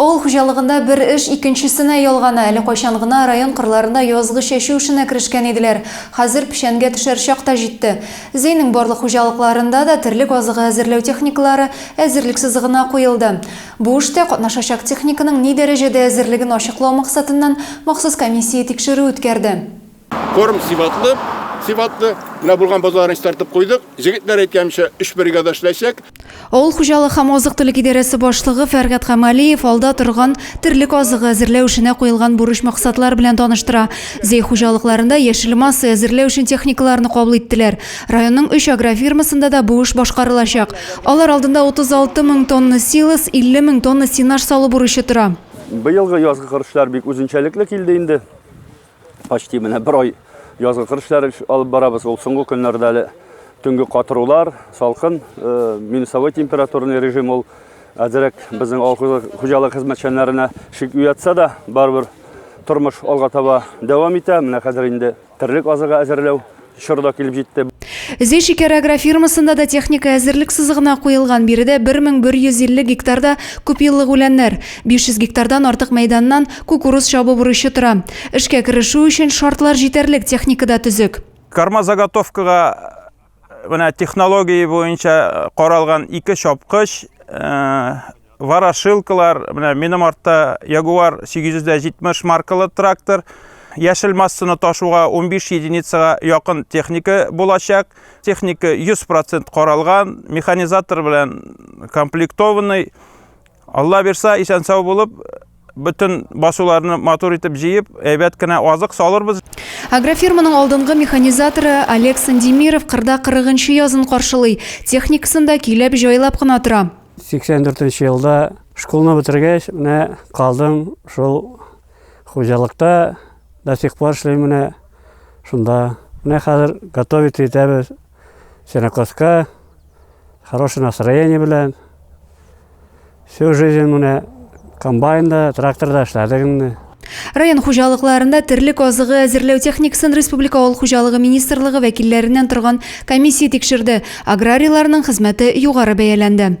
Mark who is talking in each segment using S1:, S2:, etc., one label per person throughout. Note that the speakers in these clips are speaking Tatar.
S1: Авыл хуҗалыгында бер эш икенчесенә ялгана. Әле кайчан гына район кырларында язгы чәчү эшенә керешкән иделәр. Хәзер печәнгә төшәр чак та җитте. Зәйнең барлык хуҗалыкларында да терлек азыгы әзерләү техникалары әзерлек сызыгына куелды. Бу эштә катнашачак техниканың ни дәрәҗәдә әзерлеген ачыклау максатыннан махсус комиссия тикшерү үткәрде. Корм
S2: сыйфатлы, сыйфатлы. Менә булган базарны чистартып куйдык. Җегетләр әйткәнчә, өч бригада эшләячәк. Авыл хуҗалык
S1: һәм азык-төлек идарәсе башлыгы Фәргать Камалиев алда торган терлек азыгы әзерләү эшенә куелган бурыч-максатлар белән таныштыра. Зәй хуҗалыкларында яшел масса әзерләү өчен техникаларны кабул иттеләр. Районның өч агрофирмасында да бу эш башкарылачак. Алар алдында 36 мең тонна силос, 50 мең тонна сенаж салу бурычы тора. Быелгы язгы
S3: кыр эшләре бик үзенчәлекле килде инде. почти менә бер ай язгы кыр эшләре алып барабыз. Ул соңгы көннәрдә әле төнге катырулар, салкын, э, минусовой температурный режим ул әзерәк безнең авыл хуҗалык хезмәтчәннәренә шик уятса да, барыбер тормыш алга таба дәвам итә. Менә хәзер инде терлек азыгы әзерләү Чор да килеп җитте. Зөй шикәр
S1: агрофирмасында да техника әзерлек сызыгына куелган. Биредә 1150 гектарда күпьеллык үләннәр, 500 гектардан артык мәйданнан кукуруз чабу бурычы тора. Эшкә керешү өчен шартлар җитәрлек, техника да төзек. Кормозаготовкага
S4: менә технология буенча каралган ике чапкыч, Ворошилкалар, менә минем артта Jaguar 870 маркалы трактор. Яшел массаны ташуга 15 единицага якын техника булачак. Техника 100% каралган, механизатор белән комплектованный. Алла бирса, исән-сау булып, Бөтен басуларны матур итеп җыеп, әйбәт кенә азык салырбыз. Агрофирманың
S1: алдынгы механизаторы Олег Сандемиров кырда 40 нчы язын каршылый. Техникасын да көйләп, җайлап кына тора. 84 нче
S5: елда школны бетергәч, менә калдым шул хуҗалыкта, до сих пор эшлим менә шунда. Менә хәзер готовить итәбез. Сенокоска, хороший настроение белән. Всю жизнь менә комбайнда, тракторда эшләдек инде. Район
S1: хуҗалыкларында терлек азыгы әзерләү техникасын республика авыл хуҗалыгы министрлыгы вәкилләреннән торган комиссия тикшерде. Аграрийларның хезмәте югары бәяләнде.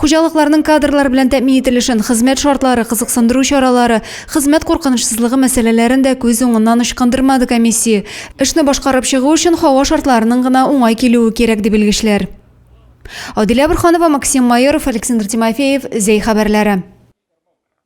S1: Хуҗалыкларның кадрлар белән тәэмин ителешен, хезмәт шартлары, кызыксындыру чаралары, хезмәт куркынычсызлыгы мәсьәләләрен дә күз уңыннан ычкындырмады комиссия. Эшне башкарып чыгу өчен һава шартларының гына уңай килүе кирәк, ди белгечләр. Адилә Борһанова, Максим Майоров, Александр Тимофеев, Зәй хәбәрләре.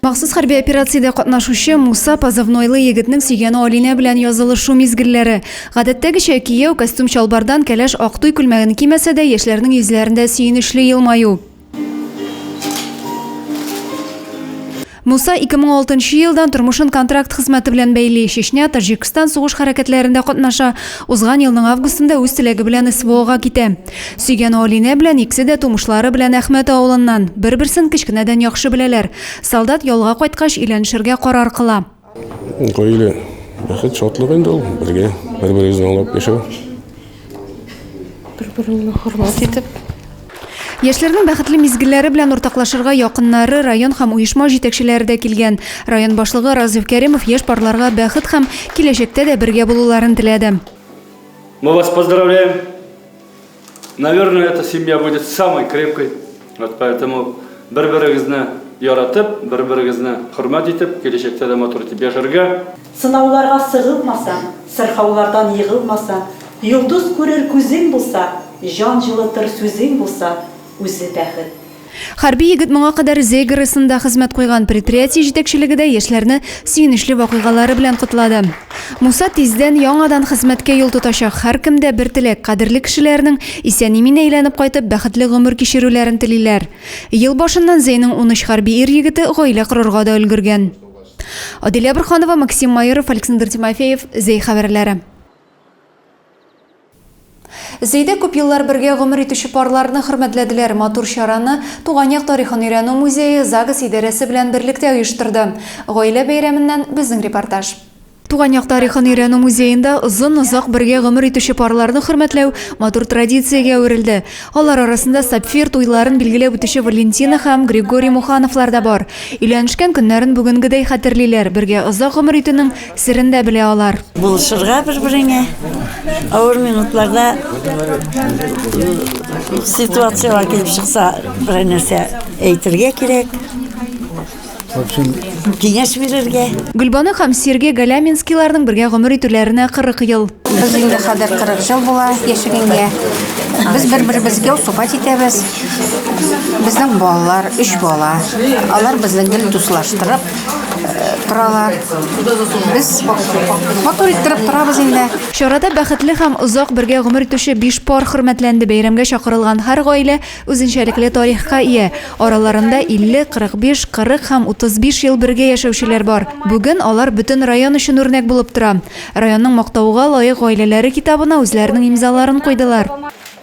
S1: Махсус хәрби операциядә катнашучы Муса позывнойлы егетнең сөйгәне Алинә белән язылышу мизгелләре. Гадәттәгечә, кияү, костюм-чалбардан, кәләш, ак туй күлмәген кимәсә дә, яшьләрнең йөзләрендә сөенечле елмаю. Муса 2006 елдан тормышын контракт хезмәте белән бәйли, Чечня, Таҗикстан сугыш хәрәкәтләрендә катнаша, узган елның августында үз теләге белән СВОга китә. Сөйгән Алинә белән икесе дә тумышлары белән Әхмәт авылыннан, бер-берсен кечкенәдән яхшы беләләр. Солдат ялга кайткач, өйләнешергә карар кыла. Гаилә
S2: бәхет, шатлык инде ул, бергә, бер-берегезне аңлап яшәү.
S6: Бер-береңне хөрмәт итеп.
S1: Яшьләрнең бәхетле мизгелләре белән уртаклашырга якыннары, район һәм оешма җитәкчеләре дә килгән. Район башлыгы Разыйф Кәримов яшь парларга бәхет һәм киләчәктә дә бергә булуларын теләде. Мы
S3: вас поздравляем. Наверное, эта семья будет самой крепкой. Вот поэтому бер-берегезне яратып, бер-берегезне хөрмәт итеп, киләчәктә дә матур итеп яшәргә. Сынауларга
S6: сыгылмасаң, сырхаулардан егылмасаң, йолдыз күрер күзең булса, җан җылытыр сүзең булса, Үзе бәхет.
S1: Хәрби егет моңа кадәр Зейгоресында хезмәт куйган, предприятие җитәкчелеге дә яшьләрне сөенечле вакыйгалары белән котлады. Муса тиздән яңадан хезмәткә юл тотачак. Һәркемдә бер теләк, кадерле кешеләренең исән-имин әйләнеп кайтып, бәхетле гомер кичерүләрен телиләр. Ел башыннан Зәйнең унөч хәрби ир егете гаилә корырга да өлгергән. Аделя Борһанова, Максим Майоров, Александр Тимофеев, Зәй хәбәрләре. Зәйдә күп еллар бергә гомер итүче парларны хөрмәтләделәр. Матур чараны Туган як тарихын өйрәнү музее ЗАГС идарәсе белән берлектә оештырды. Гаилә бәйрәменнән безнең репортаж. Туган як тарихын өйрәнү музеенда озын-озак бергә гомер итүче парларны хөрмәтләү матур традициягә әверелде. Алар арасында сапфир туйларын билгеләп үтүче Валентина һәм Григорий Мухановлар да бар. Өйләнешкән көннәрен бүгенгедәй хәтерлиләр, бергә озак гомер итүнең Серен дә белә алар. Булышырга бер-береңә,
S7: авыр минутларда ситуацияләр килеп чыкса, берәр нәрсә әйтергә кирәк. Киңәш бирергә. Гөлбану һәм
S1: Сергей Галяминскийларның бергә гомер итүләренә 40 ел. Без инде хәзер
S8: 40 ел була яшәгәнгә. Без бер-беребезгә укыпать итәбез. Безнең балалар, өч бала. Алар безне гел дуслаштырып, торалар. Без матур иттереп торабыз инде. Чарада бәхетле
S1: һәм озак бергә гомер итүче биш пар хөрмәтләнде. Бәйрәмгә чакырылган һәр гаилә үзенчәлекле тарихка ия. Араларында 50, 45, 40 һәм 35 ел бергә яшәүчеләр бар. Бүген алар бөтен район өчен үрнәк булып тора. Районның Мактауга лаек гаиләләре китабына үзләренең имзаларын куйдылар.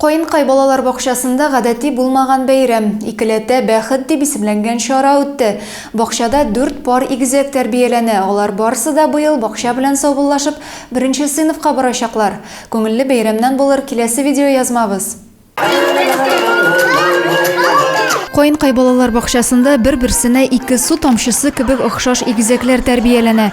S1: Каенкай балалар бакчасында гадәти булмаган бәйрәм, икеләтә бәхет дип исемләнгән чара үтте. Бакчада дүрт пар игезәк тәрбияләнә, алар барысы да быел бакча белән саубуллашып, беренче сыйныфка барачаклар. Күңелле бәйрәмнән булыр киләсе видеоязмабыз. Каенкай балалар бакчасында бер-берсенә ике су тамчысы кебек охшаш игезәкләр тәрбияләнә.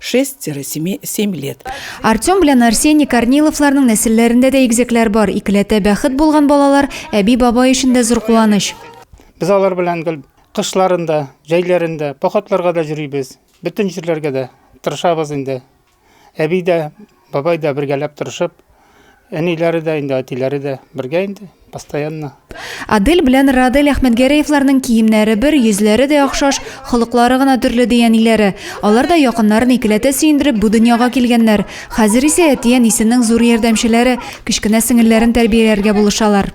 S9: 6-7 лет. Артем белән
S1: Арсений Корниловларның нәселләрендә дә игезәкләр бар. Икеләтә бәхет булган балалар әби-бабай өчен дә зур куаныч. Без алар
S10: белән гел кышларын да, җәйләрен дә, походларга да йөрибез. Бөтен җирләргә дә тырышабыз инде. Әби дә. Бабай да бергәләп тырышып, әниләре дә инде, әтиләре дә бергә инде, постоянно. Адель белән
S1: Радель Әхмәтгәрәевларның киемнәре бер, йөзләре дә охшаш, холыклары гына төрле, ди әниләре. Алар да якыннарын икеләтә сөендереп бу дөньяга килгәннәр. Хәзер исә әти-әнисенең зур ярдәмчеләре, кечкенә сеңелләрен тәрбияләргә булышалар.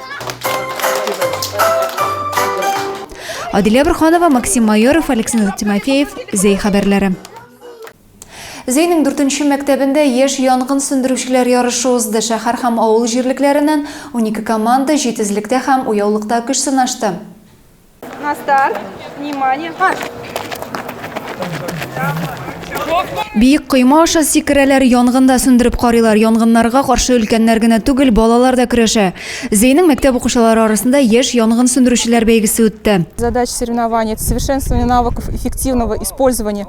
S1: Адилә Бурханова, Максим Майоров, Александр Тимофеев, Зей хәбәрләре. Зейнең дүртенче мәктәбендә яшь янгын сүндерүчеләр ярышы узды. Шәһәр һәм авыл җирлекләреннән 12 команда җитезлектә һәм уяулыкта көч сынашты.
S11: На
S1: старт. Внимание. Марш! Биек койма аша сикерәләр, янгында сүндереп карыйлар. Янгыннарга каршы өлкәннәр генә түгел, балалар да көрәшә. Зәйнең мәктәп укучылары арасында яшь янгын сүндерүчеләр бәйгесе үтте. Задач соревнования –
S11: это совершенствование навыков эффективного использования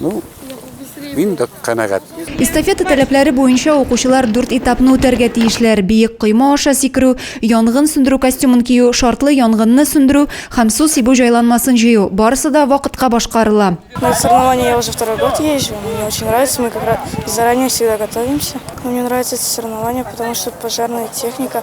S12: Ну, мин дә канәгать. Эстафета таләпләре
S1: буенча укучылар дүрт этапны үтәргә тиешләр, биек койма аша сикерү, янгын сүндерү костюмын кию, шартлы янгынны сүндерү һәм су сибү җайланмасын җыю. Барысы да вакытка башкарыла. На соревнования я
S13: уже второй год езжу. Мне очень нравится. Мы как раз заранее всегда готовимся. Мне нравится это соревнование, потому что пожарная техника.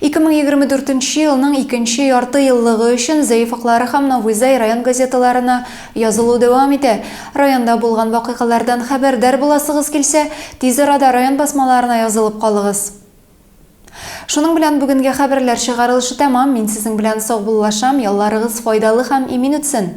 S1: 2024 нче елның икенче ярты еллыгы өчен Зәефаклары һәм Новыйзай район газеталарына язылу дәвам итә. Районда булган вакыйгалардан хәбәрдар буласыгыз килсә, тиз арада район басмаларына язылып калыгыз. Шуның белән бүгенге хәбәрләр чыгарылышы тәмам, мин сезнең белән саубуллашам, ялларыгыз файдалы һәм имин үтсен!